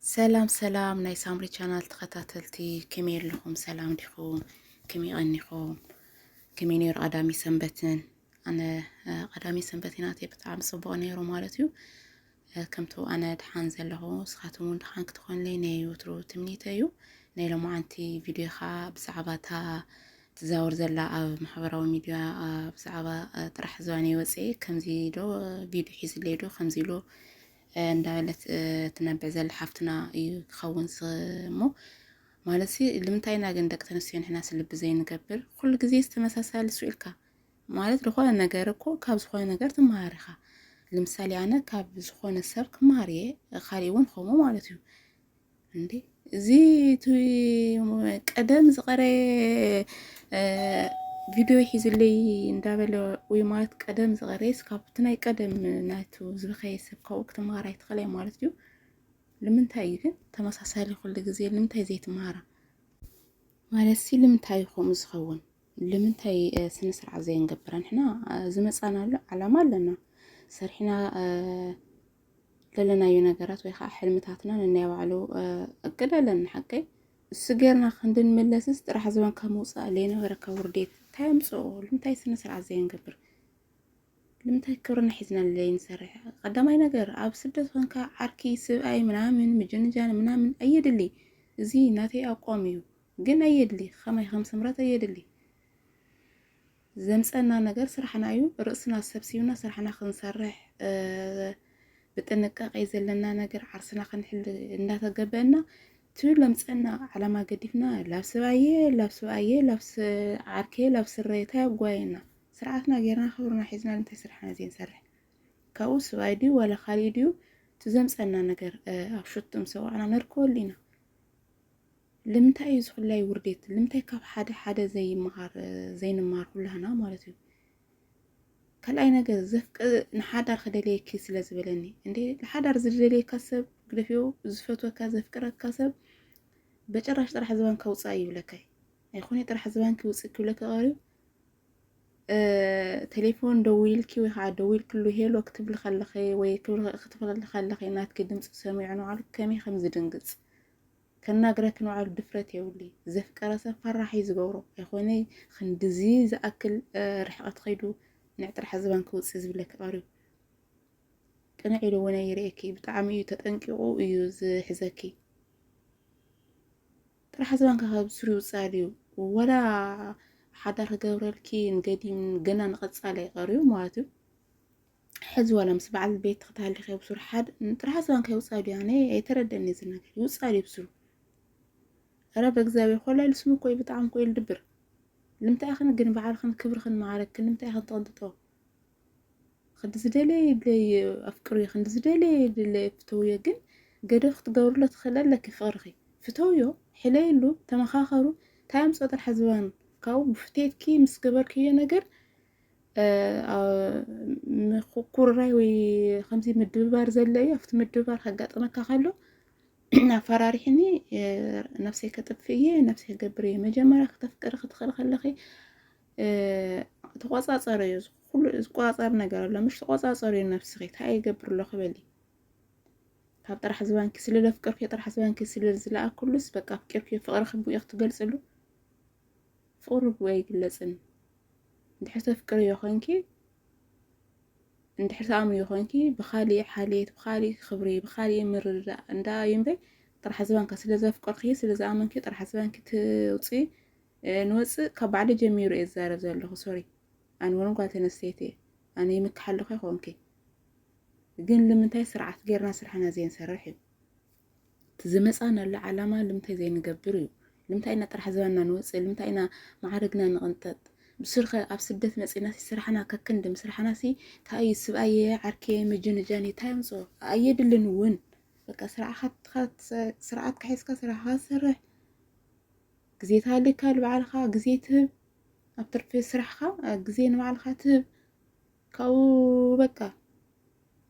ሰላም ሰላም ናይ ሳምሪ ቻናል ተኸታተልቲ ከመይ ኣለኹም? ሰላም ዲኹም? ከመይ ቀኒኹም? ከመይ ነይሩ ቀዳሚ ሰንበትን? ኣነ እ፣ ቀዳሚ ሰንበትን ናተይ ብጣዕሚ ጽቡቕ ነይሩ ማለት እዩ። እ፣ ከምቱ ኣነ ድሓን ዘለኹ ንስኻትኩም እውን ድሓን ክትኾኑለይ ናይ ወትሩ ትምኒተ እዩ። ናይ ሎማዓንቲ ቪድዮ ከዓ ብዛዕባ እታ ትዛወር ዘላ ኣብ ማሕበራዊ ሚድያ እ፣ ብዛዕባ እ፣ ጥራሕ ዝባነይ ወፅኤ ከምዚ ዶ እ፣ ቪድዮ ሒዝለይ ዶ ከምዚ ኢሉ እንዳበለት ትነብዕ ዘላ ሓፍትና እዩ ክኸውን ዝኽእል እሞ ማለትሲ ልምንታይ ኢና ግን ደቂ ተንስትዮ ንሕናስ ልቢ ዘይንገብር ኩሉ ግዜ ዝተመሳሳሊ ሱ ኢልካ ማለት ዝኾነ ነገር እኮ ካብ ዝኾነ ነገር ትመሃር ኢኻ ልምሳሌ ኣነ ካብ ዝኾነ ሰብ ክመሃር እየ ካሊእ እውን ከምኡ ማለት እዩ እንዴ እዚ ቀደም ዝቐረየ ቪድዮ ሒዝለይ እንዳበለ ወይ ማለት ቀደም ዝቐረየ ስካብቲ ናይ ቀደም ናቱ ዝበኸየ ሰብ ካብኡ ክትመሃር ኣይትኽእላይ ማለት እዩ። ልምንታይ እዩ ግን ተመሳሳሊ ኩሉ ግዜ ልምንታይ ዘይትመሃራ ማለት ሲ ልምንታይ እዩ ከምኡ ዝኸውን? ልምንታይ ስነ ስርዓት ዘየንገብራ ንሕና ዝመፃናሉ ዓላማ ኣለና ሰሪሕና ለለናዮ ነገራት ወይ ከዓ ሕልምታትና ነናይ ባዕሉ እቅድ ኣለና ሓቀይ እሱ ጌርና ክንድንመለስስ ጥራሕ ዝበን ካብ ምውፃእ ዘይነበረ ካብ ውርዴት እንታይ ኣምፅኦ ልምንታይ ስነ ስርዓት ዘየንገብር ልምንታይ ክብርና ሒዝና ዘይንሰርሕ ቀዳማይ ነገር ኣብ ስደት ኮንካ ዓርኪ ስብኣይ ምናምን ምጅንጃን ምናምን ኣየድሊ እዚ ናተይ ኣቋም እዩ ግን ኣየድሊ ከማይ ከም ስምረት ኣየድሊ ዘምጸና ነገር ስራሕና እዩ ርእስና ሰብሲብና ስራሕና ክንሰርሕ ብጥንቃቄ ዘለና ነገር ዓርስና ክንሕል እንዳተገበእና ትብል ለምጸና ዓላማ ገዲፍና ላብ ስባየ ላብ ስባየ ላብ ዓርኬ ላብ ስረየ እንታይ ኣጓየና ስርዓትና ጌርና ክብርና ሒዝና እንታይ ስራሕና ዘይንሰርሕ ካብኡ ስባይ ድዩ ዋላ ካሊእ ድዩ ትዘምጸና ነገር ኣብ ሹቱም ሰዋዕና ነርከወሉ ኢና ልምንታይ እዩ ዝኹላይ ውርዴት ልምንታይ ካብ ሓደ ሓደ ዘይምሃር ዘይንማር ኩላህና ማለት እዩ ካልኣይ ነገር ዘፍቅ ንሓዳር ክደልየኪ ስለ ዝበለኒ እንዴ ንሓዳር ዝደልየካ ሰብ ግደፍዮ ዝፈትወካ ዘፍቅረካ ሰብ በጭራሽ ጥራሕ ዝባን ከውፃእ ይብለካ ኣይኮነ ጥራሕ ዝባን ክውፅ ክብለካ ቀርዩ ቴሌፎን ደዊልኪ ወይ ከዓ ደዊልክሉ ሄሎ ክትብል ከለኸ ወይ ክትብል ከለኸ ናትኪ ድምፂ ሰሚዑ ንባዕሉ ከመይ ከም ዝድንግፅ ከናግረኪ ንባዕሉ ድፍረት የብሉይ ዘፍቀረ ሰብ ፈራሕ እዩ ዝገብሮ ኣይኮነይ ክንድዚ ዝኣክል ርሕቐት ከይዱ ንዕ ጥራሕ ዝባን ክውፅእ ዝብለኪ ቀርዩ ቅንዕ ኢሉ እውን ኣይርእየኪ ብጣዕሚ እዩ ተጠንቂቑ እዩ ዝሕዘኪ ጥራሕ ዝባንካ ካብ ስሩ ይውፅእ ኣልዩ ወላ ሓዳር ክገብረልኪ ንገዲም ገና ንቐፃሊ ኣይቀርዩ ማለት እዩ ሕዚ ዋላ ምስ በዓል ቤት ክትሃሊ ከይብሱር ሓድ ጥራሕ ዝባን ከይውፃ ድዩ ኣነ ኣይተረደኒ እዚ ነገር ይውፃ ድዩ ብስሩ ረ በእግዚኣብሔር ኮላይ ልስሙ እኮ ብጣዕሚ ኮይ ልድብር ልምታይ ኢኽን ግን በዓልኽን ክብርኽን መዓረግክን ልምታይ ኢኽን ተቐንጥጦ ክንዲ ዝደለየ ይድለየ ኣፍቅርዮ ክንዲ ዝደለየ ይድለየ ፍተውዮ ግን ገደብ ክትገብርሎ ትኽእል ኣለኪ ፍቕርኺ ፍተውዮ ሕለይሉ ተመኻኸሩ እንታይ ኣምፅኦ ጥራሕ ዝባን ካብኡ ብፍትየትኪ ምስ ገበርክዮ ነገር ምኩርራይ ወይ ከምዚ ምድብባር ዘለ እዩ ኣብቲ ምድብባር ከጋጥመካ ከሎ ኣፈራሪሕኒ ነብሰይ ከጥፍ እየ ነብሰይ ገብር እየ መጀመርያ ክተፍቅሪ ክትኽእል ከለኺ ተቆፃፀሪ እዩ ኩሉ ዝቆፃፀር ነገር ኣሎ ምሽ ተቆፃፀሪ እዩ ነብስኺ እንታይ ይገብር ኣሎ ክበሊ ካብ ጥራሕ ዝባንኪ ስለ ለፍቅርኪ ጥራሕ ዝባንኪ ስለ ዝለኣኩሉስ በቃ ኣፍቂርኪ ፍቅርኪ ብኡ ክትገልፅሉ ፍቅሪ ብኡ ኣይግለጽን እንድሕር ተፍቅርዮ ኮንኪ እንድሕር ተኣምንዮ ኮንኪ ብካሊእ ሓልየት ብካሊእ ክብሪ ብካሊእ ምርድዳእ እንዳ እዩ እምበይ ጥራሕ ዝባንካ ስለ ዘፍቅርኪ ስለ ዝኣመንኪ ጥራሕ ዝባንኪ ትውፅኢ ንወፅእ ካብ ባዕሊ ጀሚሩ እየ ዝዛረብ ዘለኹ ሶሪ ኣነ እውን ጓል ተነስተይቲ እየ ኣነ ይምክሓ ኣለኹ ይኾንኪ ግን ልምንታይ ስርዓት ጌርና ስራሕና ዘይንሰርሕ እዩ እቲ ዝመፃናሉ ዓላማ ልምታይ ዘይንገብር እዩ ልምታይ ኢና ጥራሕ ዝበና ንወፅእ ልምታይ ኢና መዓርግና ንቕንጠጥ ብስርኸ ኣብ ስደት መፂና ሲ ስራሕና ከክንዲ ምስራሕና ሲ ታይ እዩ ስብኣየ ዓርኬ ምጅንጃን እዩ ታይ ኣምፅኦ ኣየድልን እውን በቃ ስርዓትካ ስርዓት ክሒዝካ ስራሕካ ዝሰርሕ ግዜ ታሃልካ ንባዕልካ ግዜ ትህብ ኣብ ትርፊ ስራሕካ ግዜ ንባዕልካ ትህብ ካብኡ በቃ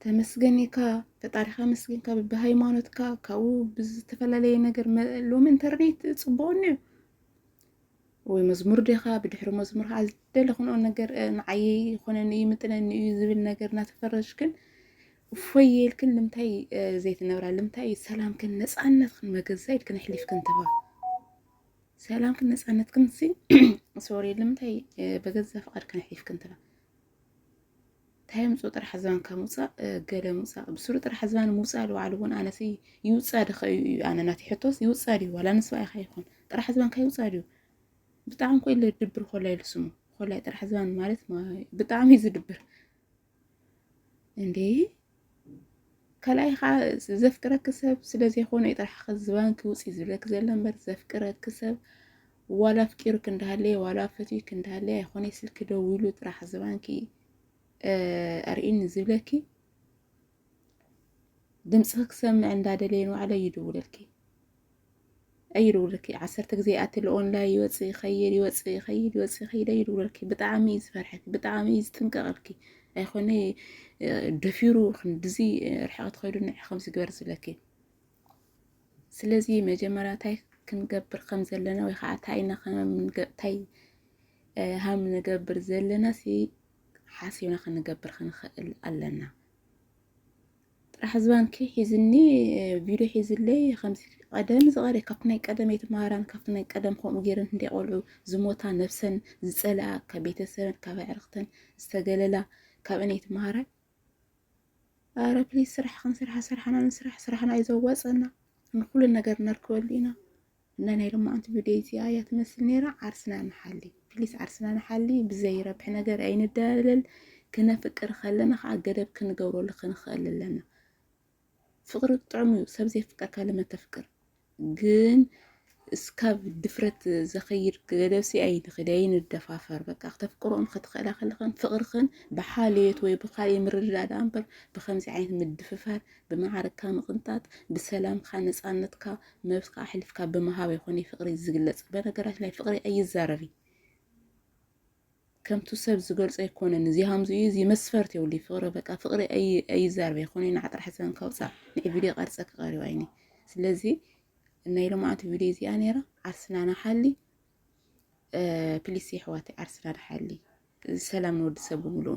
ተመስገን ኢልካ ፈጣሪኻ ኣመስጊንካ ብሃይማኖትካ ካብኡ ብዝተፈላለየ ነገር ሎሚ ኢንተርኔት ፅቡቕ እኒኦ ወይ መዝሙር ዲኻ ብድሕሪ መዝሙር ከዓ ዝደለኽንኦ ነገር ንዓየ ይኾነኒ እዩ ምጥነኒ እዩ ዝብል ነገር እናተፈረጅክን እፎይ የልክን ልምታይ ዘይትነብራ ልምታይ ሰላምክን ነፃነትክን መገዛ ኢልክን ኣሕሊፍክን ትባ ሰላምክን ነፃነትክን ሲ ሶሪ ልምታይ በገዛ ፍቓድክን ኣሕሊፍክን ትባ እንታይ ምፁ ጥራሕ ዝባን ካብ ምውፃእ ገለ ምውፃእ ብስሩ ጥራሕ ዝባን ምውፃእ ልባዕሉ እውን ኣነሲ ይውፃ ድኸ እዩ እዩ ኣነ ናተይ ሕቶስ ይውፃ ድዩ ዋላ ንስባ ኢኻ ይኹን ጥራሕ ዝባንካ ይውፃ ድዩ ብጣዕሚ ኮ ኢለ ድብር ኮላይ ኢሉ ስሙ ኮላይ ጥራሕ ዝባን ማለት ብጣዕሚ እዩ ዝድብር እንዴ ካልኣይ ከዓ ዘፍቅረኪ ሰብ ስለዘይኮነ እዩ ጥራሕ ከዝባንኪ ውፅ ዝብለኪ ዘሎ እምበር ዘፍቅረኪ ሰብ ዋላ ኣፍቂሩኪ እንዳሃለየ ዋላ ፈትዩኪ እንዳሃለየ ኣይኮነ ስልኪ ደዊሉ ጥራሕ ዝባንኪ ኣርእኒ ዝብለኪ ድምፂ ክሰምዕ እንዳደለየ ንባዕለ ይድውለልኪ ኣይድውልኪ ዓሰርተ ግዜ ኣቲ ኦንላይ ይወፅእ ይኸይድ ይወፅእ ይኸይድ ይወፅእ ይኸይድ ኣይድውልኪ ብጣዕሚ እዩ ዝፈርሐኪ ብጣዕሚ እዩ ዝጥንቀቐልኪ ኣይኮነ ደፊሩ ክንድዚ ርሕቐት ኸይዱ ንዕ ከምዚ ግበር ዝለኪ ስለዚ መጀመርያ እንታይ ክንገብር ከም ዘለና ወይ ከዓ እንታይ ኢና ከምንታይ ሃም ንገብር ዘለና ሲ ሓሲብና ክንገብር ክንኽእል ኣለና ጥራሕ ዝባንኪ ሒዝኒ ቪድዮ ሒዝለይ ከምዚ ቀደም ዝቐረ ካብቲ ናይ ቀደም ኣይትምሃራን ካብቲ ናይ ቀደም ከምኡ ገይረን እንደ ቆልዑ ዝሞታ ነብሰን ዝፀልኣ ካብ ቤተሰበን ካብ ኣዕርኽተን ዝተገለላ ካብአን ኣይትምሃራ ኣረ ፕሊዝ ስራሕ ክንስርሓ ስራሕና ንስራሕ ስራሕና እዩ ዘዋፀና ንኩሉ ነገር ነርከበሉ ኢና እና ናይ ሎማዓንቲ ቪድዮ እዚኣ እያ ትመስል ነይራ። ዓርስና ንሓሊ ፕሊስ፣ ዓርስና ንሓሊ። ብዘይረብሕ ነገር ኣይንዳለል። ክነፍቅር ከለና ከዓ ገደብ ክንገብረሉ ክንኽእል ኣለና። ፍቅሪ ጥዑም እዩ፣ ሰብ ዘይፍቀርካ ለመተፍቅር ግን እስካብ ድፍረት ዘኸይድ ገደብ ሲ ኣይንኽድ ኣይንደፋፈር። በቃ ክተፍቅሮን ክትኽእላ ከለኽን ፍቅርኽን ብሓልዮት ወይ ብካልእ ምርድዳእ ደኣ እምበር ብከምዚ ዓይነት ምድፍፋር፣ ብመዓርግካ ምቕንጣጥ፣ ብሰላምካ ነፃነትካ ነብስካ ኣሕልፍካ ብምሃብ ኣይኮነይ ፍቅሪ ዝግለጽ በነገራችን ላይ ፍቅሪ ኣይዛረብይ ከምቱ ሰብ ዝገልጾ ኣይኮነን እዚ ሃምዚ እዩ እዚ መስፈርት የብሉይ ፍቅሪ በቃ ፍቅሪ ኣይዛረብ ኣይኮነይ ንዓ ጥራሕ ሰን ከውፃእ ንዒ ቪድዮ ቀርፀ ክቀሪባ ኣይኒ ስለዚ ናይ ልምዓት ቪድዮ እዚኣ ነይራ ዓርስና ንሓሊ ፕሊስ የሕዋት ዓርስና ንሓሊ ሰላም ንወዲ ሰብ ብምልኡ